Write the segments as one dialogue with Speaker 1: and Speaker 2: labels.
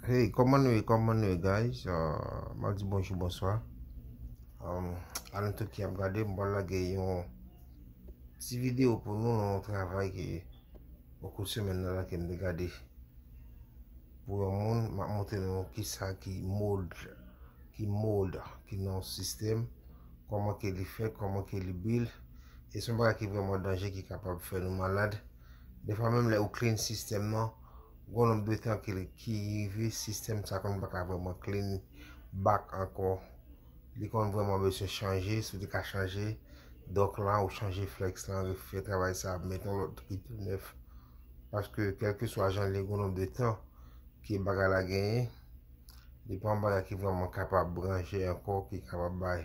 Speaker 1: Hey, koman nou e, koman nou e guys? Uh, mwen di bonjou, bonswa. Um, alan tout ki ap gade, mwen lage yon ti video pou nou nan yon travay ki yon kout semen nan la ke mwen gade. Pou yon moun, mwen montre nou ki sa ki mold, ki mold, ki nan sistem, koman ke li fè, koman ke li bil, e son baga ki vreman danje ki kapab fè nou malad. Defwa menm lè ou clean sistèm nan, gon lòt detan ki rive sistèm sa konn pa ka vrèman clean back ankò. Li konn vrèman beswen chanje, si ou te ka chanje dock lan ou chanje flex lan refè travay sa met yon lòt ki tou nèf. Paske kèlkeswa jan li gon lòt detan ke bagay la genyen, li pa yon bagay ki vrèman kapab ranje ankò, ki kapab bay.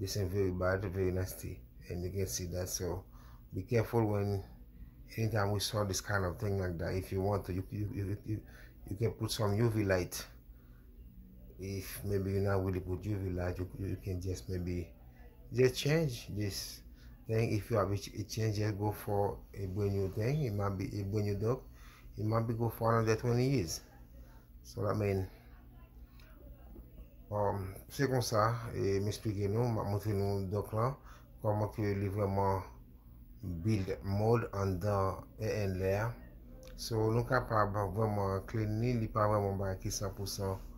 Speaker 1: This thing very bad, very nasty and you can see that so be careful when anytime we saw this kind of thing like that if you want to you, you, you, you, you can put some UV light if maybe you're not really put UV light you, you can just maybe just change this thing if you have a change just go for a brand new thing it might be a brand new dog it might be go for another 20 years Salamen um, Se konsa, e m esplike nou, m ap montre nou dòk lan, kòman ke li vrèman build mode anndan ENLE a. So, nou kapab vrèman clean li, li pa vrèman bay ki 100%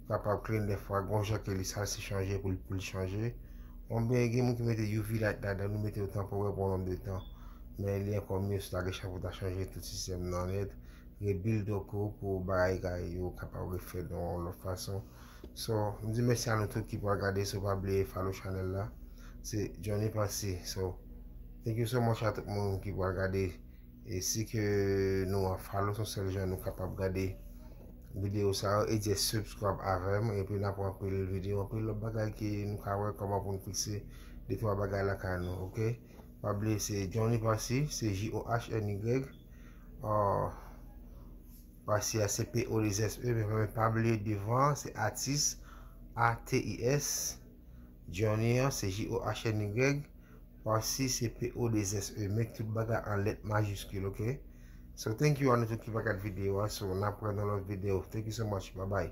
Speaker 1: kapab clean dèfwa, gon jan ke li sal se chanje pou l pou l chanje. Onbyen gen moun ki mete UV light ladan, nou mete yo tanporè pou yon nonm de tan. Men li ankò mye si w ta gen chan pou w ta chanje tout sistèm nan nèt, rebuild yon kou pou bagay yo kapab refèt yon lòt fason so m di mèsi a nou tout ki pral gade so pa bliye follow channel la se Johnny Pensée so thank you so much a tout moun ki pral gade e si ke nou an follow son sèl jan nou kapab gade video sa yo e jè subscribe avèm epi nan pran pil video anpe lòt bagay ki nou ka wè kòman pou nou fikse de twa bagay la ka nou ok pa bliye se Johnny Pensée se J-O-H-N-Y Aww Pase a se p o de z e men mwen pa vle devan se atis a t i s Johnny an se j o h n y Pase se p o de z e men tout bagay an lèt majiskil ok So thank you a nou tout ki pa gad videyo a so n ap wè nan lòt videyo thank you so much bye bye.